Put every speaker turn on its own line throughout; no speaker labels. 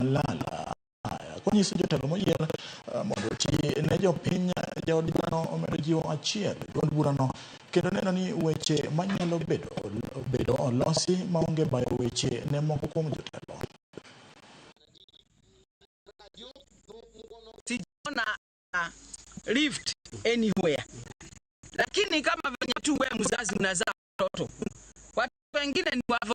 Malala. Haya, konyiso jotelo moyier eh, mondo oti ne jopiny eh, jaod dhano omedo jiwo achiel duond burano kendo neno ni weche manyalo bedo bedo olosi maonge bayo weche ne moko kuom jotelo.
Sijaona uh, lift anywhere, lakini kama venye tu wewe mzazi unazaa watoto, watoto wengine ni wavo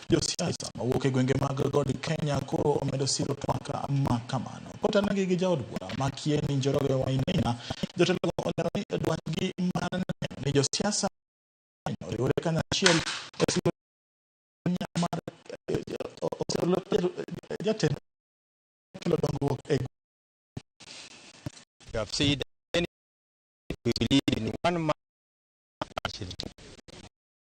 Josiasa mawuok e gwenge mag god Kenya koro omedo siro twak ma kamano. Kotenegi gi jaod bura ma Kieni Njoroge Wainaina, jotelogo olero ni dwachgi mar neno ni josiasa oriwore kanyachiel e siro mar jatend kelo dongruok e You
have said that we believe in one man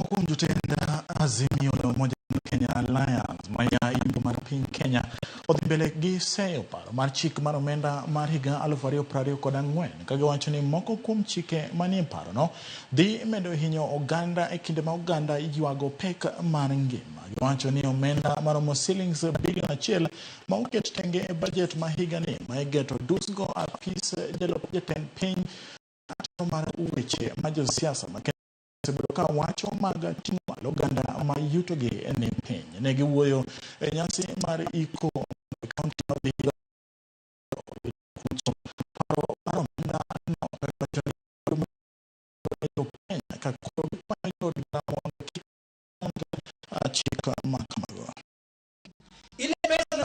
Mkuu
mtenda Azimio la Umoja Kenya Alliance maya imbo mar piny Kenya odhi mbele gi seyo paro mar chik mar omenda mar higa 2024 ka giwacho ni moko kuom chike manie parono dhi medo hinyo oganda e kinde ma oganda ywago pek mar ngima. Giwacho ni omenda maromo silings bilion achiel ma oket tenge e bajet ma higani ma igeto dusgo apis jalup jatend piny acho mar weche ma josiasa ma osebedo ka wacho mag ting'o malo oganda ma yutogi ni piny. Ne giwuoyo e nyasi mar iko e kaunti ma Vihiga paro mar omenda no Kenya ka koro gikwayo jood bura mondo kik chik ma kamago. Ile pesa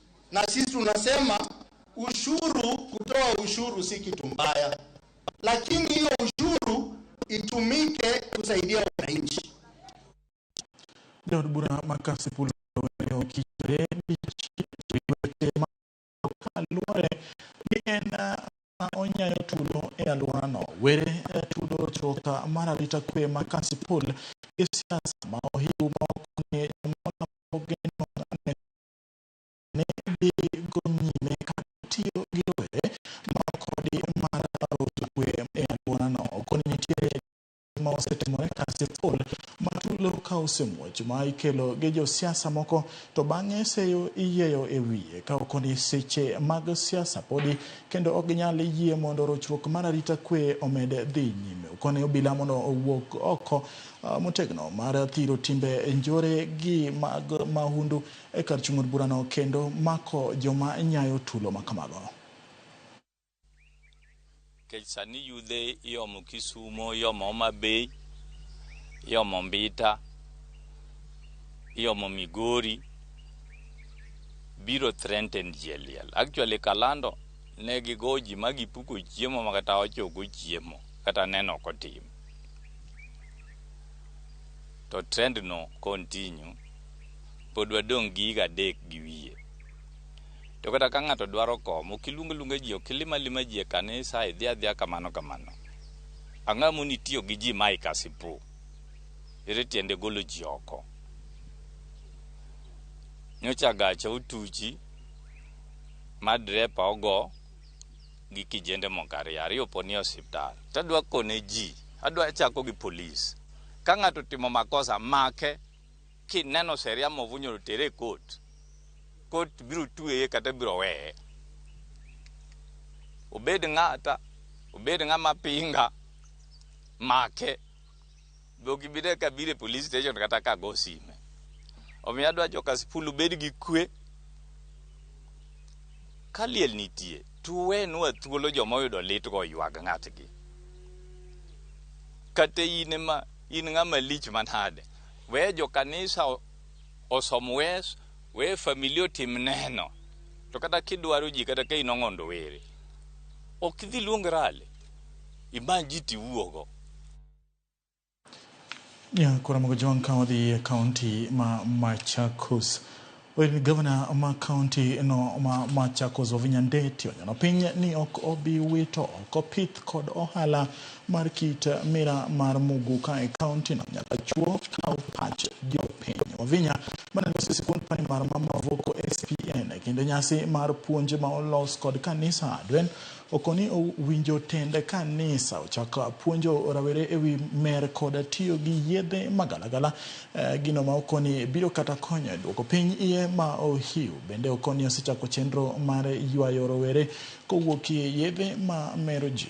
na sisi tunasema ushuru, kutoa ushuru si kitu mbaya, lakini hiyo ushuru itumike kusaidia wananchi.
Daud Bura Makasi Pulo luore ni en onyayo tulo e alworano were e tudo choka mar arita kwe ma kasipul gi siasa ma ohiu ma ok ni ne dhi go nyime katiyo gi rowere ma kodgi mar rocho kwe e alworano. Koni nitiere ma osetimore kaka sikul ma tulo ka osemuoch ma ikelo gi josiasa moko to bang'e seyo iyieyo e wiye ka okoni seche mag siasa podi kendo ok ginyal yie mondo rochruok mar arita kwe omed dhi nyime. Okoni obila mondo owuog oko ah, motegno mar thiro timbe njore gi mag mahundu e kar chung' od burano kendo mako joma nyayo tulo ma kamago. Nikech
sani yudhe iomo Kisumo, iomo Homabay, iomo Mbita, iomo Migori, biro threatened ji e liel. Actually Kalando ne gigowo ji ma gipuko chiemo ma kata wach ok ochiemo, kata neno ok otimo. To trend no continue. pod wadong' gi higa adek gi wiye. To kata ka ng'ato dwaro kom, ok iluong aluonga ji, ok ilim alima ji e kanisa, idhi adhiya kamano kamano. Ang'o ma moni tiyo gi ji ma ikasipu? Ere tiende golo ji oko? Nyocha gacha otuchi ma drepa ogo gi kijende moko ariyo, ariyo po ni e osiptal. To adwa kone ji, adwa chako gi polis. Ka ng'ato otimo makosa, make. Kineno seria ma ovunyoro tere e kot. Kot biro tweye kata biro weye. Obed ng'ata, obed ng'ama pinga, make. Be ok ibi ne ka biro e police station kata ka go sime. Omiyo adwa jo Kasipul ubed gi kwe. Ka liel nitie, to uwenwa thuolo joma oyudo litgo oywag ng'atgi. Kata in ema in ng'ama lich manade, we jo kanisa o- osom wes we familia otim neno to kata kidwaro ji kata ka in ong'ondo were ok idhi luong rale imany ji tiwuogo
Nyakwar Mogo Jwang' ka wadhi e kaunti ma Machakos. Well, gavana ma kaunti no ma Machakos Wavinya Ndeti onyono piny ni ok obi wito oko pith kod ohala mar kit mira mar muguka e kaunti no nyaka chuo kaw pach jopiny. Wavinya mane loso sikund primar ma Mavoko SPN e kinde nyasi mar puonj ma olos kod kanisa Adwen Okoni owinjo tend kanisa ochak puonjo rawere ewi mer koda tiyo gi yedhe magalagala. Gino ma okoni biro kata konyo e duoko piny iye ma ohiu. Bende okoni osechako chenro mar ywayo rowere kowuokie yedhe ma mero ji.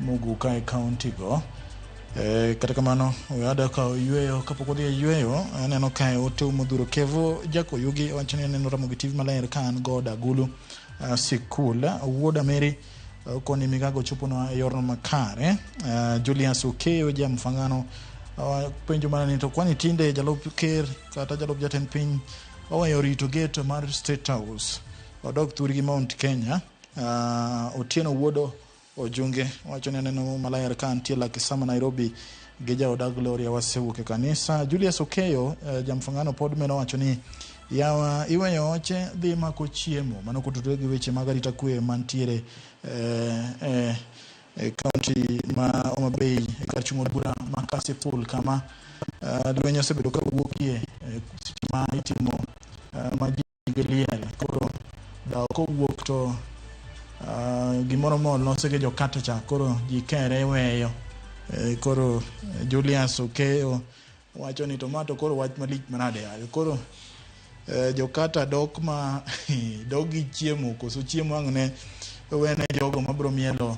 Muguka e kaunti go. E, kata kamano oyada ka oyweyo kapok odhi e yweyo aneno kae ote modhuro kevo jakoyugi wacho ni aneno ramogi tv maler ka an god agulu uh, sikul wuod ameri uh, koni migago choponwa e yorno makare uh, julius okeyo ja mfangano uh, penjo mana ni to kwani tinde jalup ker kata jalup jatend piny oweyo rito gate mar state house odok thurgi mount kenya uh, otieno wuodo Ojunge wacho ni aneno Muma Ler ka antie Lakisama, Nairobi gi jaoda Gloria wasewuok e kanisa. Julius Okeyo uh, jamfungano pod meno wacho ni yawa iweyo oche dhi mako chiemo mano kotudore gi weche mag arita kwe mantiere eh, eh, e kaunti ma Homa Bay e kar chung' od bura ma Kasipul kama uh, lweny osebedo ka wuokie eh, seche ma itimo uh, ma ji gi liel koro dawo kowuok to uh, gimoro moro lose gi jokate cha koro ji kere weyo e, koro Julius Okeyo wacho ni to ma to koro wach malich manade yaye koro e, jokata dok ma dok gi chiemo koso chiemo ang' ne wene jogo mabro mielo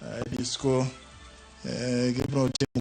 e, disco e, gibro timo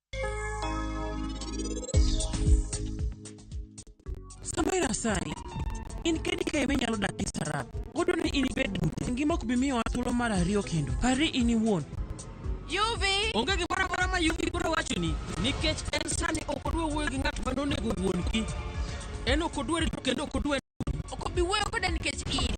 Sama irasani, in kedi ka ime nyalo dak gi sarap. Odo ni in ibed dute. Ngima ok bi miyowa thuolo mar ariyo kendo. Pari in iwuon. Yuvi! Onge gimoro amora ma Yuvi biro wachoni nikech en sani ok odwa wuoyo gi ng'at ma nonego wuon-gi. En ok odwa rito kendo ok odwa Ok obi wuoyo koda
nikech in.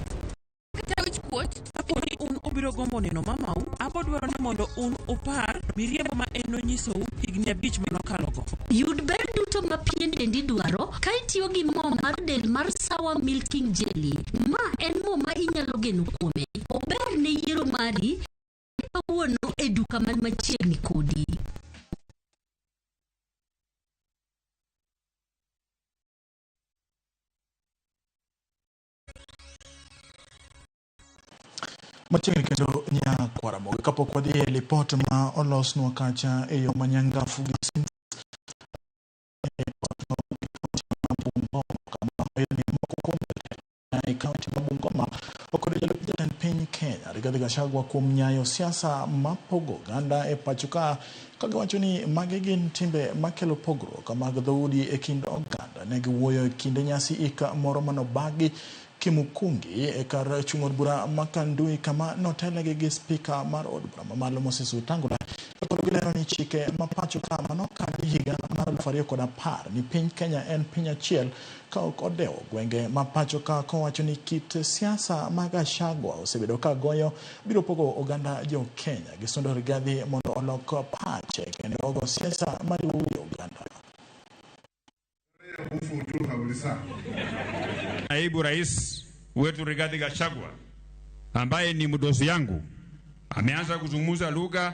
kata wich kuot. Kapo ni un ubiro
gombo neno mamau, abodwaro ni mondo un upar miriambo ma en nonyisou higni abich ma nokalogo. Yud ber
duto ma pien dendi dwaro ka itiyo gi mo mar del mar Sawa Milking Jelly. Ma en mo ma inyalo geno kuome. Ober ne yiero mari kawuono e duka man machiegni kodi.
Machiegni kendo nya kwaramogo kapok wadhi e lipot ma olosnwa kacha e yo ma nyangafu gi Sims e kaunti ma Bungoma okwedo jalup jatend piny Kenya Rigathi Gachagua kuom nyayo siasa mapogo oganda e pacho ka Ka giwacho ni magi gin timbe makelo pogruok mag dhoudi e kind oganda, ne giwuoyo e kinde nyasi ik moro manobagi Kimukungi e kar chung' od bura ma Kandui kama notelnegi gi spika mar od bura mamalo Moses Wetangula to koro gilero ni chike ma pacho ka manokadhi higa mar aluf ariyo kod apar ni piny Kenya en piny achiel ka ok odewo gwenge ma pachoka kowacho ni kit siasa ma Gachagua osebedo ka goyo biro pogo oganda jo Kenya gi sundo Rigathi mondo olok pache kendo ogo siasa mariwo wi oganda.
Naibu Rais wetu Rigathi Gachagua ambaye ni mdosi yangu ameanza kuzungumza lugha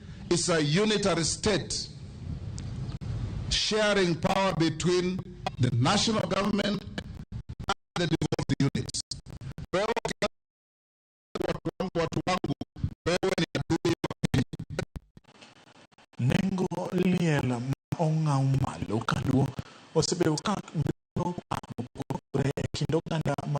is a unitary state sharing power between the national government and the devolved units. Wewe ukianza watu wangu, watu wangu, wewe ni adui wa Kenya.
Nengo liel ma ong'aw malo kaluo osebedo ka bedo paro mopogore e kind oganda ma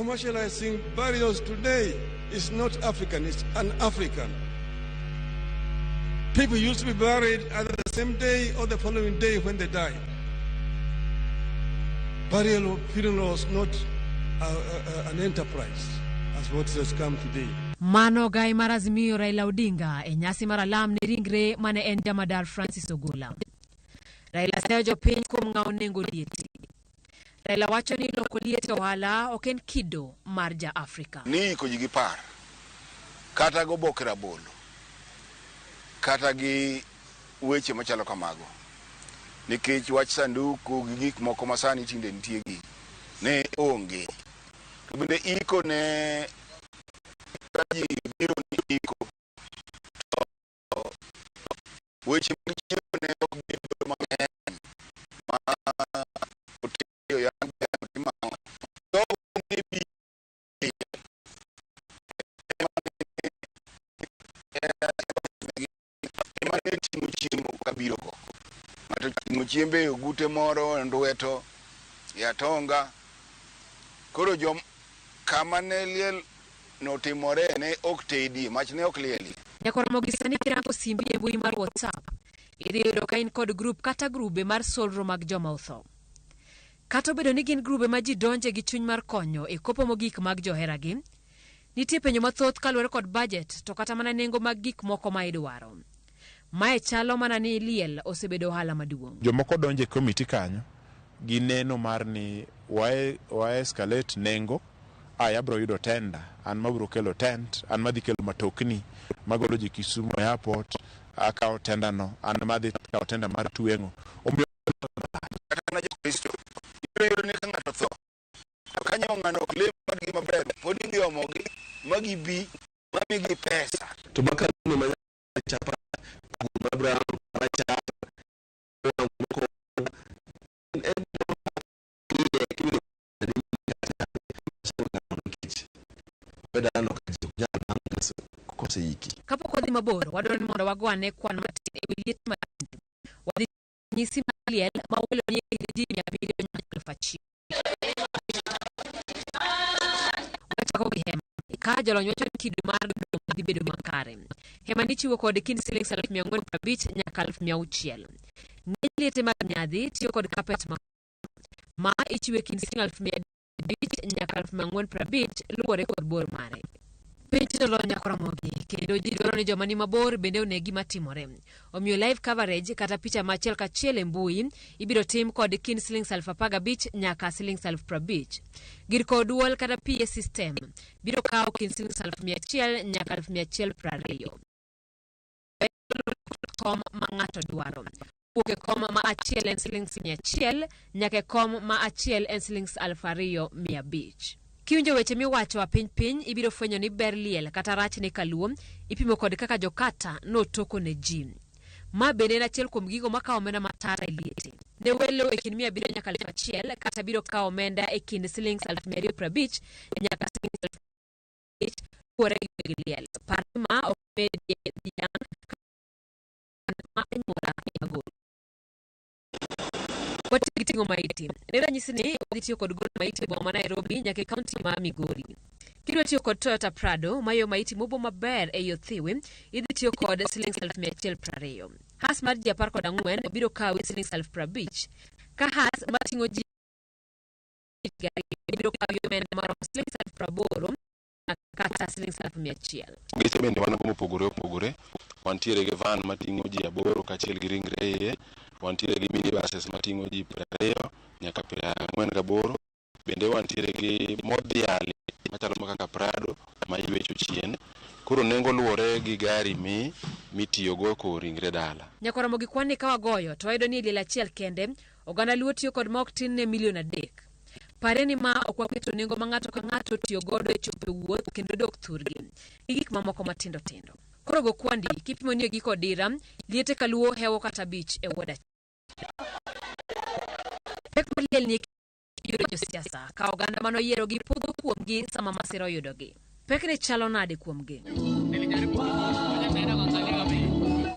Commercializing burials today is not African, it's an African. People used to be buried either the same day or the following day when they died. Burial funeral was not a, a, an enterprise as what has come today. Mano gai
mar Azimio Raila Odinga e nyasi mar alam ne ringre mane en jamadar Francis Ogola. Raila seyo jopiny kuom ng'awo nengo lieti. Raila wacho ni loko liet e ohala ok en kido mar ja Afrika. Ni iko ji gi par,
kata go boke rabolo, kata gi weche machalo kamago. Nikech wach sanduku gi gik moko ma sani tinde nitie gi ne onge. To bende iko ne ji biro ni iko weche mag chiemo ne ok bedo mang'eny ma otedo yan gano timamo jogo ne bi ema ne ting'o chiemo kabiro go ng'ato ting'o chiembe e ogute moro e ndweto e atonga koro jom kama ne liel notimore ne ok tedie, mach ne ok lielie. Nyaka oromo gi sani
kirango simbi e mbui mar WhatsApp, idhi yudo ka in kod grup kata grube mar solro mag joma otho. Kata obedo ni gin grube ma ji donje gi chuny mar konyo e kopo mogik mag joheragi, nitie penjo mathoth kaluwore kod bajet to kata mana nengo mag gik moko ma idwaro. Mae chalo mana ni liel osebedo ohala maduong'. Jomoko donjo e komiti
kanyo gi neno mar ni wae wae escalate nengo, aya abro yudo tender, an mabro kelo tent, an madhi kelo matokni magolo ji Kisumu e airport, akawo tender no, an madhi kawo tender mar tweng'o. Omiyo Kata
mana Jokristo, ibiro yudo ni ka ng'ato tho, to ka nyawo ng'ano ok lem kodgi maber, pod idhi omogi ma gibi ma migi pesa. To bang' ka ng'ano ma
Kapok
wadhi mabor, wadwaro ni mondo wagwane kwano matin e wi liet mar ranyisi mar liel ma welo nie kind ji mia abiriyo nyaka elfu achiel. Wachako gi hema. Ka jolony wacho ni kido mar duto dhi bedo makare. Hema nichiwo kod kind siling aluf mia ang'wen kod abich nyaka aluf mia auchiel. Ng'eny liete mag nyadhi tiyo kod kapet ma ma ichiwe kind siling aluf mia abich nyaka aluf mia ang'wen piero abich luwore kod bor mare piny tino lolo nyaka oromogi kendo ji dwaro ni joma ni mabor bende one gima timore omiyo live coverage kata picha ma achiel kachiel e mbui ibiro tim kod kind silings aluf apar gabich nyaka silings aluf piero abich gir kowo dwol kata PA system biro kawo kind silings aluf mia achiel nyaka aluf mia achiel piero ariyo kom ma ng'ato dwaro wuok e kom ma achiel en silings mia achiel nyaka e kom ma achiel en silings aluf ariyo mia abich kiwinjo weche miwacho a piny piny ibiro fwenyo ni ber liel kata rach ne kaluo ipimo kod kaka jokata notoko ne ji ma bende en achiel kuom gigo makawo omenda matara e liete ne welo e kind mia abiriyo nyaka aluf achiel kata biro kawo omenda e kind silings aluf mia ariyo prabich nyaka silings aluf nikech kuore gi weg liel. Par ni ma ok bedie dhiang' kata ma anyuola ema golo. Watiyo gi ting'o maiti. Ne ranyisi ni wadhi tiyo kod golo maiti e boma ma Nairobi nyaka e kaunti ma Migori. Kidwa tiyo kod Toyota Prado mayo maiti mobo maber ei othiwi, idhi tiyo kod siling aluf mia achiel prariyo. Has mar ji apar kod ang'wen biro kawi siling aluf prabich. Ka has mating'o ji tich gari ibiro kawo gi omenda maromo siling aluf praboro na kata siling aluf mia achiel. Geche bende wan go
mopogore opogore. Wantiere gi van mating'o ji aboro kaachiel gi ringre e iye. Wantiere gi minibuses mating'o ji piero ariyo nyaka piero ang'wen gaboro. Bende wantiere gi modhiali machalo ma kaka Prado ma ywecho chien. Koro nengo luwore gi gari mi mitiyogo e kowo ringre dala. Nyaka oromo gi kwan ni ka
wagoyo to wayudo ni e liel achiel kende Oganda Luo tiyo kod ma ok tin ne milion adek. Pare ni ma ok waketo nengo ma ng'ato ka ng'ato tiyo godo e chopo e wuoth kendo dok thurgi gi gik mamoko matindo tindo. Koro go kwandi kipimo ni e giko odira, liete ka Luo hewo kata abich e wuod achiel. Pek mar liel ni e yudo josiasa ka oganda ma noyierogi podho kuomgi sama masira oyudogi. Pek ne chalo nade kuomgi?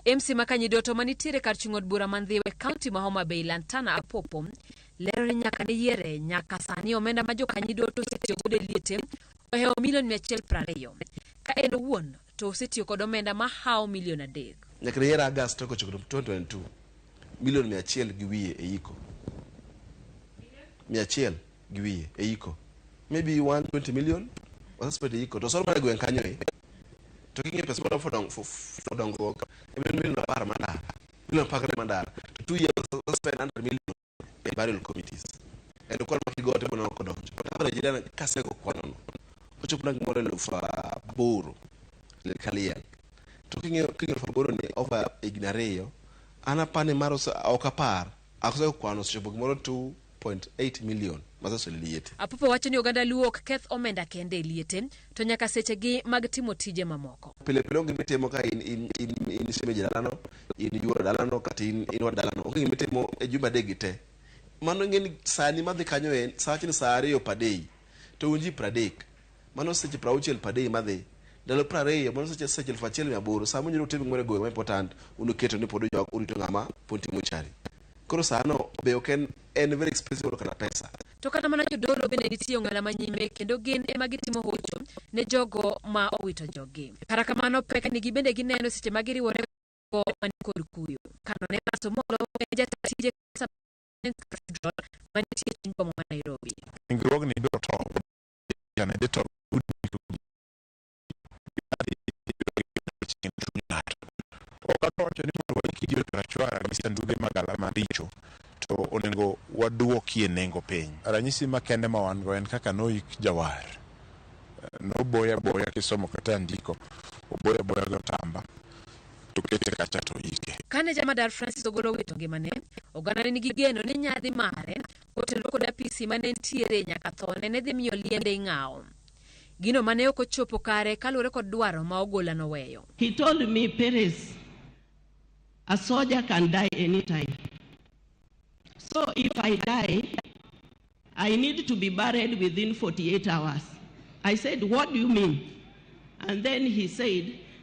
MC Makanyi Doto ma nitiere kar chung' od bura man Dhiwa e kaunti ma Homa Bay Lantana Apopo lero ni nyaka ne yiere nyaka sani omenda ma jokanyi Doto osetiyo godo e liete ohewo milion 120 ka en owuon to osetiyo kod omenda ma hawo milion adek. Nyaka ne yier August
tarik ochiko 2022, milion mia achiel gi wiye e iko. Mia achiel gi wiye e iko. Maybe 120 million osespend e iko. To osoro mana e gweng' kanyo e. To king'iyo pesa madwa fodong- fo- fo- dongruok, en milion apar mandara. Milion apar kata mandara. To two years osespend 100 million. e burial committees kendo kwano ma kigote mana ok odonjo but average ida kasego kwanono ochopo na gimoro eluf aboro le kaliel to king'eyo king'eyo eluf aboro ni over higni ariyo an apani mar ose- ok apar asego kwano osechopo gimoro 2.8 million maseseliete Apupo wacho ni oganda
Luo ok keth omenda kende e liete, to nyaka sechegi mag timo tije mamoko. pile pile onge mitimo
ka in in in in shemeji dalano in yuoro dalano kata in in wa dalano onge gima itimo e jumbe adek gi te mano ing'e ni sani madhi kanyo en saa achiel saa ariyo padei to un ji pradek mano seche prauchiel padei madhi ndalo prariyo mano seche seche elfu achiel mia aboro saa munyalo timo gimoro e gweng' ma important unuketo ni pod ujok urito ng'ama pod timo chari koro sano be ok en en very expensive oloka na pesa To kata mana jodolo
bende nitie ong'ala ma nyime kendo gin ema gitimo hocho ne jogo ma owito joggi. Kata kamano pek nigi bende gineno seche ma giriwore go man kod kuyo. Kano ne Maso Molo en jata tije kanisa mar Cathedral manitie chuny boma ma Nairobi. Ringruogni biro
tow ne jotend udi owacho ni mondo waiki ji rachwara gi sanduge magala maricho to onego waduokie nengo piny. Ranyisi makende ma wan go en kaka noik jawar, noboya boya kisomo kata ndiko, oboya boya gi otamba to kete kacha to ike. Kane jamadar Francis
ogolo owito ngimane, oganda ne nigi geno ni nyadhi mare kotenore kod apisi mane nitiere nyaka thone ne dhi miyo liende ing'awo. Gino mane ok ochopo kare kaluwore kod dwaro ma Ogola noweyo. He told me
Perez, a soldier can die anytime. So if I die, I need to be buried within 48 hours. I said, what do you mean? And then he said,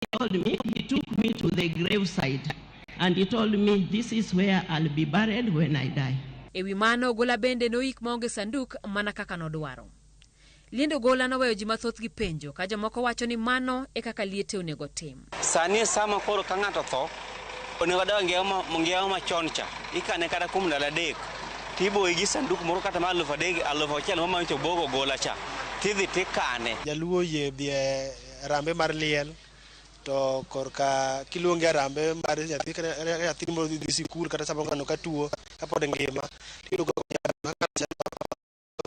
he told me, he took me to the graveside and he told me, this is where I'll be buried when I die. E wi mano, Ogola
bende noik maonge sanduk mana kaka nodwaro. Liend Ogola noweyo ji mathoth gi penjo ka jomoko wacho ni mano e kaka liete onego tim. Sani e sama koro
ka ng'ato tho, onego odag ngiawa machon cha. Ikane kata kuom ndalo adek, tiboye gi sanduk moro kata ma alufu adek, alufu achiel ma manyo to obogo Ogola cha, tidhi tikane. Jaluo oyie dhi e
Arambe mar liel to korka kiluonge arambe mar nyathi kata nyathi moro dhi dhi sikul kata samoro ng'ano ka tuo kapod ngima tiyudo ka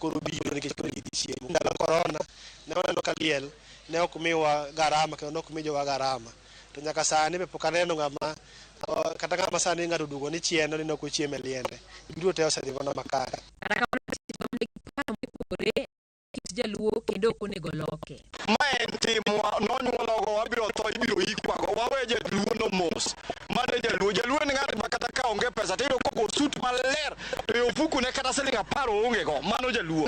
koro biro nikech koro gidhi chiemo. Ndalo korona ne waneno ka liel ne ok miwa garama kendo ne ok mi jowa garama to nyaka sani be pok aneno ng'ama o- kata ng'ama sani ng'ato oduogo ni chieno ni ne ok ochiem e liende. Giduto te osedhi mana makare. Kata kamano, seche ma wan gi paro mopogore
kit jaluo kendo ok onego loke. Ma en
timwa, nonyuolwago, wabiro tho, ibiro ikwago. Wawe jaluono mos. Mano e jaluo. Jaluo en ng'at ma kata ka onge pesa to iyudo kogo sut maler to e ofukune kata siling' apar oonge go. Mano jaluo.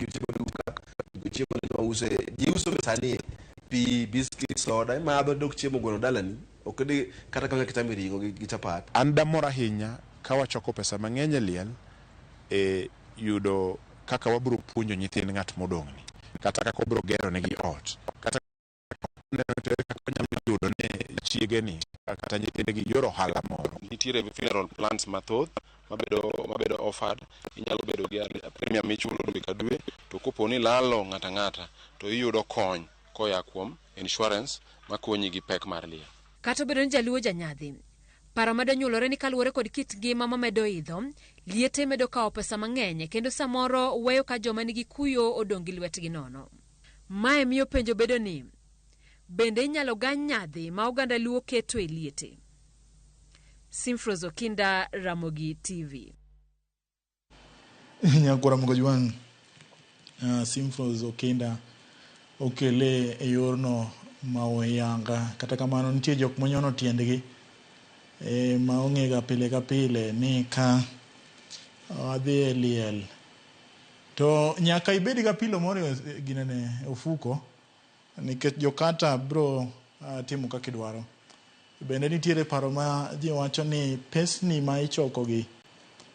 jochiwo duka
jochiwo ni joma use ji uso be sani pi biskit soda imadho dok chiemo gweno dalani ok di kata kaka kitami ring'o gi gi chapat An damor ahinya
ka wachoko pesa mang'eny e liel e yudo kaka wabiro puonjo nyithind ng'at modong'ni, kata kaka wabiro geronegi ot, kata yudo ni chiegeni kata nyithindegi yor ohala moro. Nitiere funeral plans mathoth mabedo mabedo offered. Inyalo bedo gi premium michulo dwe ka dwe to kopo ni ilalo ng'ato ang'ata to iyudo kony koya kuom insurance makonyi gi pek mar liel. Kata obedo ni jaluo
janyadhi, paro medo nyuolore ni kaluwore kod kit ngima mamedo idho, liete medo kawo pesa mang'eny kendo samoro weyo ka joma nigi kuyo odong' gi lwetgi nono. Mae miyo penjo bedo ni, bende inyalo gany nyadhi ma oganda Luo keto e liete? Simfros Okinda, Ramogi TV.
Nyako Ramogi Ojwang', uh, Simfros Okinda okele e yorno ma oyanga. Kata kamano nitie jok monyono tiendgi e, ma ong'ega pile ka pile ni ka adhi e liel To nyaka ibed ga pilo moro e ginene ofuko nikech jokata bro timo kaka idwaro. Bende nitiere paro ma ji wacho ni pesni ma ichoko gi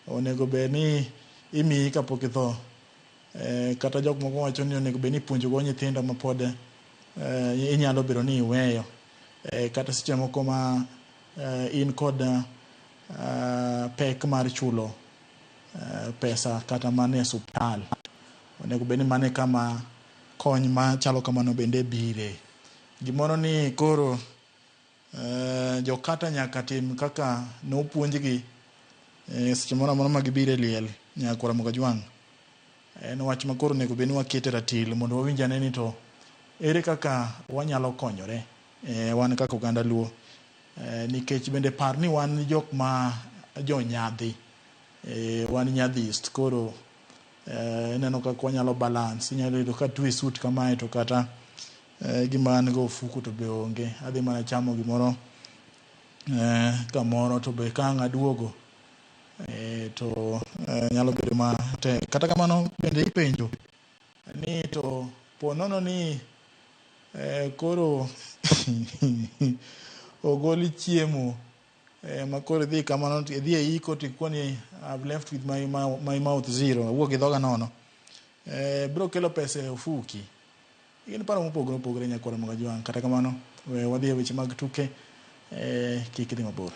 onego bed ni imiyi kapok itho. Kata jok moko wacho ni onego bed ni ipuonjo go nyithindo ma pod inyalo bedo ni iweyo. Kata seche moko ma in kod pek mar chulo. eh, pesa kata mana e osuptal. Onego bed ni mano e kama kony machalo kamano bende bire. Gimoro ni koro eh, jokata nyaka tim kaka nopuonjgi eh, seche moro amora ma gibiro e liel nyakwar Mugajwang'. En wach ma koro onego bed ni wakete ratil mondo wawinj ane ni to ere kaka wanyalo konyore eh, wan kaka oganda Luo Eh, nikech bende par ni wan jok ma jonyadhi eh, wan nyadhist koro eh, ineno kaka wanyalo balance inyalo yudo ka twe suit kamae to kata eh, gima an go ofuku to be onge adhi mana chamo gimoro eh, kamoro to be ka ang' aduogo eh, to eh, nyalo bedo matek kata kamano bende ipenjo ni to po nono ni eh, koro ogol chiemo eh, ma koro idhi kamano to idhi e iko to ikoni I've left with my, mou- my mouth zero awuok gi dhoga nono eh, biro kelo pesa e ofuki gin paro mopogore opogore nyakwara mag ajwang' kata kamano we wadhi e weche mag tuke Eh, kik idhi mabor.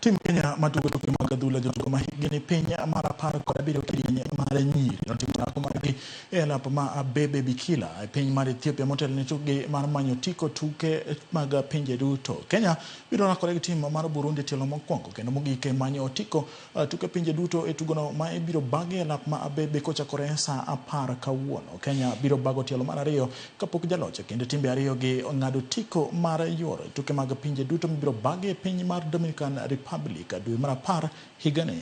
Tim Kenya matugo tuke mag adhula jotugo ma hikgi ni piny mar apar kod abiriyo kidieny mar nyiri notimo orako margi e alap ma Abebe Bikila e piny mar Ethiopia motelo ne tukgi mar manyo tiko tuke mag pinje duto. Kenya Biro rakore gi tim mar Burundi e tielo mokwongo kendo mogik e manyo otiko eh, tuke pinje duto e tugono ma ibiro bagi e lap ma Abebe kochakore sa apar kawuono. Kenya biro bago tielo mar ariyo kapok jaloch e kind timbe ariyo gi ng'ado otiko mar yuoro e tuke mag pinje duto mibiro bagi e piny mar Dominican Republic dwe mar apar higani.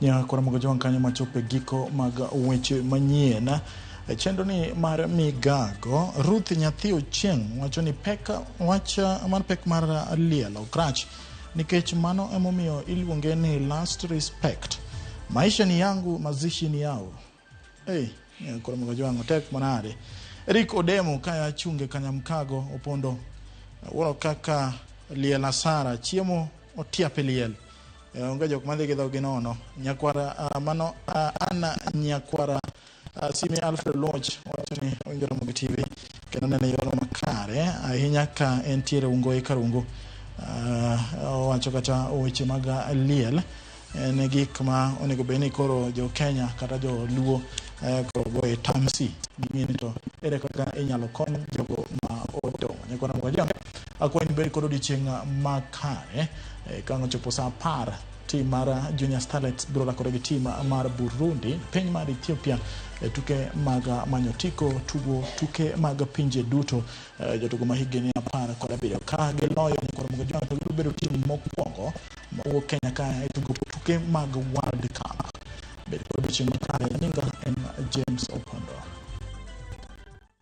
Nyaka waromoga jowang' kanyo machopo e giko mag weche manyien e chenroni mar migago. Ruth nyathi Ochieng' wacho ni pek wach mar pek mar liel ok rach nikech mano emomiyo iluonge ni last respect. Maisha ni yangu, mazishi ni yao. Hey, koro mogo jwang'o tek manade. Eric Odemo kaya chunge Kanyamkago Opondo wuoro kaka liel asara chiemo otiape liel e, onge jok madhi gi dhogi nono nyakwara uh, mano uh, ana nyakwara uh, simi alfred loch wacho ni owinjo romo gi tv kendo nene yor makare ahinya ka entiere ungo e karungo uh, owacho kata weche mag liel en e gik ma onego bed ni koro jo Kenya kata jo Luo eh, koro goye tamsi ging'e ni to ere kaka inyalo kony jogo ma odong' nyakwana mwaja akwayi ni bed kod odiechieng' makare eh, ka ochopo saa apar tim mar Junior Starlets biro rakore gi tim mar Burundi piny mar Ethiopia e tuke mag manyo otiko tugo tuke mag pinje duto eh, jotugo ma higni apar kod abiriyo ka giloyo nyakwaromogo jona to gibiro bedo tim mokwongo mawuok Kenya ka e tugo tuke mag World Cup. Bed kod odiechieng' makare, nyinga en James Opondo.